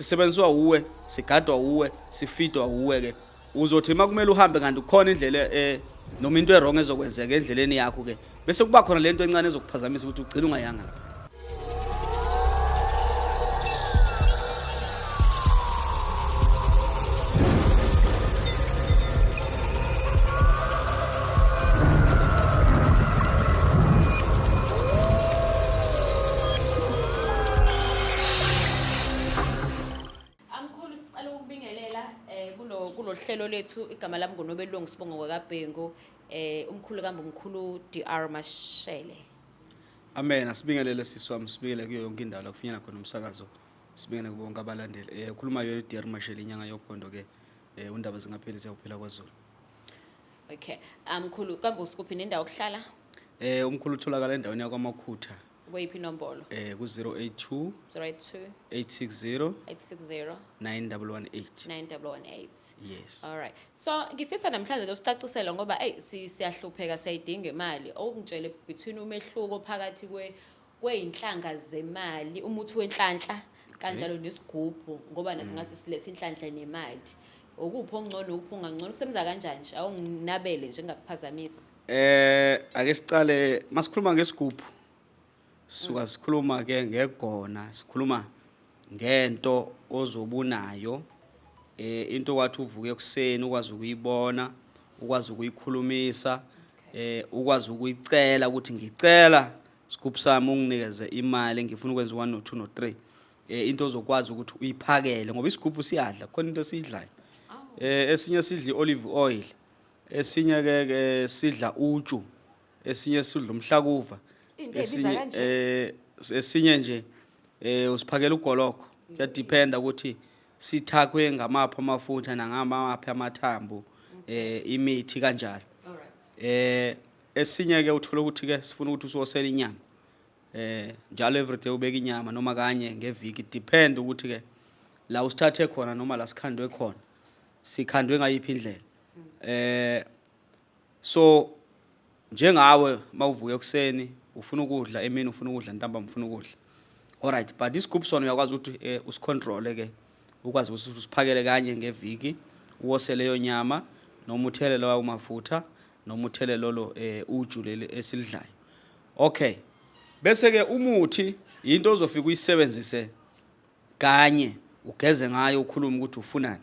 sisebenziswa uwe sigadwa uwe sifidwa uwe ke uzothi uma kumele uhambe kanti kukhona indlela eh noma into erong ezokwenzeka endleleni yakho ke bese kuba khona lento encane ezokuphazamisa ukuthi ugcine ungayanga lapho Amkhulu sicela ukubingelela eh kulo kulohlelo lethu igama lami ngunobelungu sibongo kwakabhengu eh umkhulu kambe umkhulu DR Mashele. Amen asibingelele sisi wami sibingelele kuyo yonke indawo la kufinyela khona umsakazo sibingelele kubo bonke abalandeli eh ukhuluma yona DR Mashele inyanga yophondo ke eh undaba zingapheli siyakuphila kwaZulu Okay. Amkhulu kambe usikuphi nendawo okuhlala? eh umkhulu utholakala endaweni yakwamakhutha kweyiphi inombolo eh ku-082 082 860 860 9118 9118 yes all right so ngifisa namhlanje ke usicacisele ngoba hey siyahlupheka siyayidinga imali okungitshele between umehluko phakathi kwe kweyinhlanga zemali umuthi wenhlanhla kanjalo eh? nesigubhu ngoba nathi mm. ngathi silethe inhlanhla nemali okuphi okungcono ukuphi ungangcono kusebenza kanjani nje awunginabele nje ngingakuphazamisi Eh ake siqale masikhuluma ngesigubhu. Suka sikhuluma ke ngegona, sikhuluma ngento ozobunayo eh into wathi uvuke ekuseni ukwazi ukuyibona, ukwazi ukuyikhulumisa, eh ukwazi ukuyicela ukuthi ngicela sigubhu sami unginikeze imali ngifuna ukwenza 1 no 2 no 3. Eh into ozokwazi ukuthi uyiphakele ngoba isigubhu siyadla khona into esiyidlayo. Eh esinye sidli olive oil. esinye ke ke sidla uju esinye sidla umhlakuva Into ebiza esinye kanje. eh esinye nje eh usiphakela ugoloko kuyadependa ukuthi sithakwe ngamaphi amafutha nangamaphi amathambo eh imithi kanjalo eh esinye ke uthola ukuthi ke sifuna ukuthi usosele inyama eh njalo everyday ubeka inyama noma kanye ngeviki depend ukuthi ke la usithathe khona noma la sikhandwe khona sikhandwe ngayiphi indlela eh so njengawe mawuvuka ekuseni ufuna ukudla emini ufuna ukudla ntambama ufuna ukudla alright but this group sona uyakwazi ukuthi eh, usicontrole ke ukwazi ukuthi usiphakele kanye ngeviki uwose leyo nyama noma uthele lawa umafutha noma uthele lolo eh, uju leli esilidlayo okay bese ke umuthi into ozofika uyisebenzise kanye ugeze ngayo ukhulume ukuthi ufunani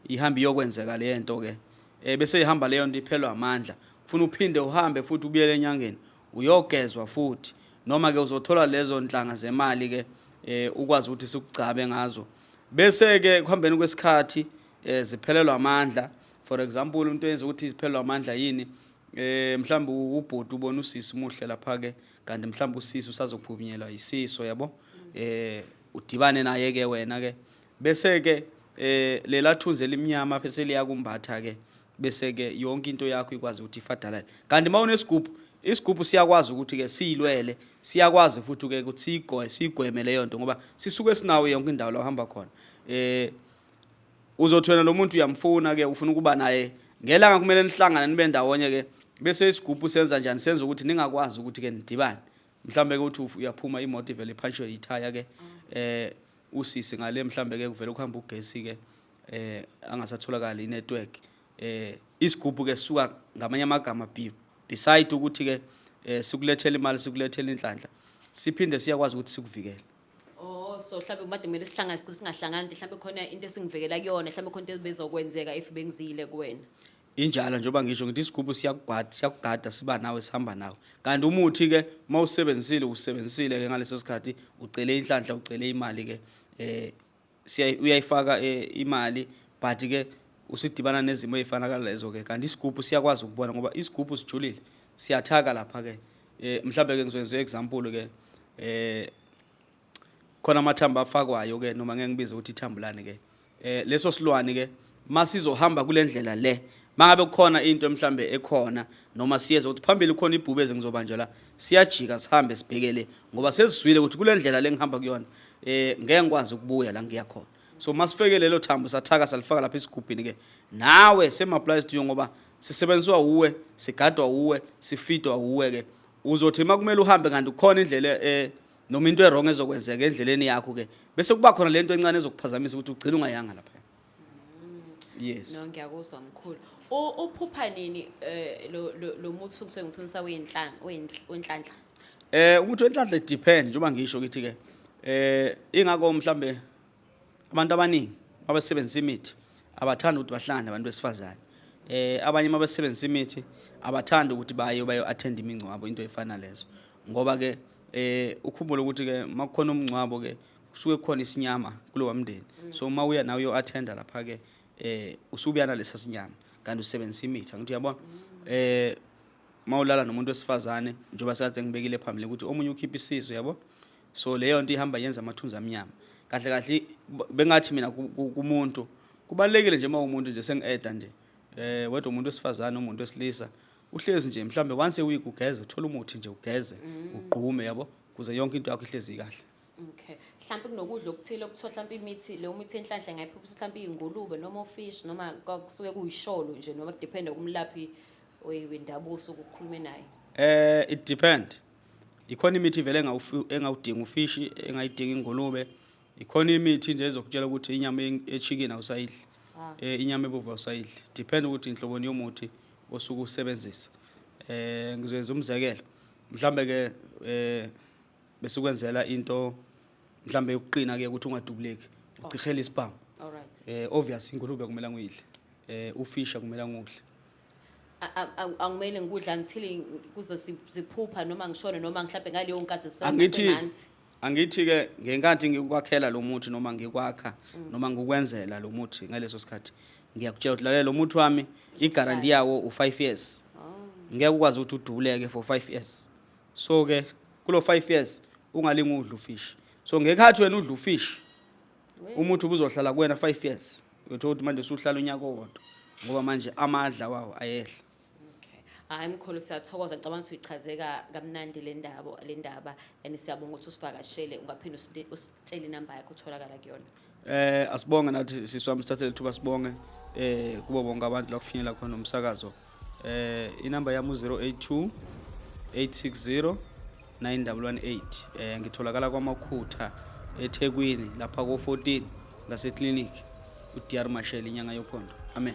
ihambe iyokwenzeka le nto ke eh bese ihamba leyo nto iphelwa amandla ufuna uphinde uhambe futhi ubuyele enyangeni uyogezwa futhi noma ke uzothola lezo nhlanga zemali ke eh ukwazi ukuthi sikugcabe ngazo bese ke kuhambeni kwesikhathi eh ziphelelwa amandla for example umuntu enza ukuthi ziphelelwa amandla yini eh mhlawumbe ubhoti ubona usisi umuhle lapha ke kanti mhlawumbe usisi usazophunyelwa isiso yabo eh udibane naye ke wena ke bese ke eh lela thunzi elimnyama phese liyakumbatha ke bese ke yonke into yakho ikwazi ukuthi ifadalale kanti mawunesigubhu isigubhu siyakwazi ukuthi ke silwele siyakwazi futhi ke ukuthi sigoye sigweme leyo nto ngoba sisuke sinawo yonke indawo la uhamba khona eh uzothi wena lo muntu uyamfuna ke ufuna ukuba naye ngelanga kumele nihlangane nibe ndawonye ke bese isigubhu senza njani senza ukuthi ningakwazi ukuthi ke nidibane mhlambe ke uthi uyaphuma imoto ivele iphanshwe ithaya ke eh usisi ngale mhlambe ke kuvele ukuhamba ugesi ke eh angasatholakali inetwork eh isigubhu ke suka ngamanye amagama beside ukuthi ke eh sikulethela imali sikulethela inhlanhla siphinde siyakwazi ukuthi sikuvikele Oh so mhlawumbe made kumele sihlangane sicela singahlangani nje mhlawumbe khona into esingivekela kuyona mhlawumbe khona into ebezokwenzeka if bengizile kuwena. injalo njengoba ngisho ngithi isigubhu siyakugada siyakugada siba nawe sihamba nawe kanti umuthi ke uma usebenzisile usebenzisile ke ngaleso sikhathi ucele inhlanhla ucele imali ke eh uyayifaka eh, imali but ke usidibana nezimo ezifana kalezo ke kanti isigubhu siyakwazi ukubona ngoba isigubhu sijulile siyathaka lapha ke eh mhlawumbe ke ngizokwenza example ke eh khona amathambo afakwayo ke noma ngeke ngibize ukuthi ithambulane ke eh leso silwane ke masizohamba kulendlela le mangabe kukhona into mhlambe ekhona noma siyeza ukuthi phambili khona ibhubeze ngizobanjwa la siyajika sihambe sibhekele ngoba sesizwile ukuthi kulendlela lengihamba kuyona eh ngeke ngikwazi ukubuya la ngiya khona so masifeke lelo thambo sathaka salifaka lapha esigubhini ke nawe same applies to you ngoba sisebenziswa uwe sigadwa uwe sifidwa uwe ke uzothi makumele uhambe kanti kukhona indlela eh noma into erong ezokwenzeka endleleni yakho ke bese kuba khona lento encane ezokuphazamisa ukuthi ugcina ungayanga lapha yes no ngiyakuzwa mkhulu U- uphupha nini eh, lo- lo lo muthi kusuke ngithunisa wenhlanhla wenhlanhla Eh ukuthi wenhlanhla it depend njengoba ngisho ukuthi ke eh ingakho mhlambe abantu abaningi abasebenzisa imithi abathanda ukuthi bahlangane abantu besifazane. Eh abanye mabesebenzisa imithi abathanda ukuthi baye bayo attend imingcwabo into efana lezo. Ngoba ke eh ukhumbule ukuthi ke makukhona umngcwabo ke kusuke khona isinyama kulowa mndeni mm. so uma uya nawe uyo-athenda lapha-ke eh usubuya nalesa sinyama kanti usebenzisa imithi angithi uyabona mm. eh uma ulala nomuntu wesifazane njengoba sekade ngibekile phambili ukuthi omunye ukhipha isisu yabo so leyo nto ihamba yenza amathunzi amnyama kahle kahle bengathi mina kumuntu kubalekile nje uma umuntu nje sengieda nje eh wedwa umuntu wesifazane umuntu wesilisa uhlezi nje mhlambe once a week ugeze uthola umuthi nje ugeze mm. ugqume yabo kuze yonke into yakho ihlezi kahle Okay. Mhlawumbe kunokudla okuthile okuthiwa mhlawumbe imithi leyo mithi enhlanhla ngayiphuphisa mhlawumbe iy'ngulube noma ofish noma kusuke kuyisholo nje noma kudependa kumlaphi wendabuko osuke ukukhulume naye. Eh it depend. Ikhona imithi vele engawudingi ufishi, engayidingi ingulube. Ikhona imithi nje ezokutshela ukuthi inyama echicken awusayidli. Ah. Eh inyama ebovu awusayidli. Depend ukuthi inhloboni yomuthi osuke usebenzisa. Eh ngizoyenza umzekelo. Mhlambe ke eh besikwenzela into mhlambe yokuqina ke ukuthi ungadubuleki ucihela isibhamu alright eh obvious ingulube kumele nguyidle eh ufisha kumele ngudle A- a- a- angimele ngikudla until kuze si- siphupha noma ngishone noma mhlawumbe ngaleyo nkathi sisaba angithi semanzi. angithi ke ngenkathi ngikwakhela lo muthi noma ngikwakha noma ngikwenzela lo muthi ngaleso sikhathi ngiyakutshela ukuthi lalela lo muthi wami i-guarantee yawo u-5 years Oh, ngeke ukwazi ukuthi udubuleke for 5 years so ke kulo 5 years ungalinga udla ufish so ngekhathi wena udla ufish umuthi ubuzohlala kuwena 5 years uyothola ukuthi manje usuhlala unyaka owodwa ngoba manje amadla wawo ayehla hayi mkhulu siyathokoza ngicabanga ukuthi uyichazeka kamnandi le ndaba le ndaba and siyabonga ukuthi usivakashele ungaphinde usi- usi- tshela inamba yakho utholakala kuyona eh asibonge nathi sisi wami sithathele ithuba sibonge eh kubo bonke abantu la kufinyela khona umsakazo eh inamba yami u-082 860 9118 eh ngitholakala kwamakhutha ethekwini lapha ko-14 ngaseclinic udr mashel inyanga yophondo amen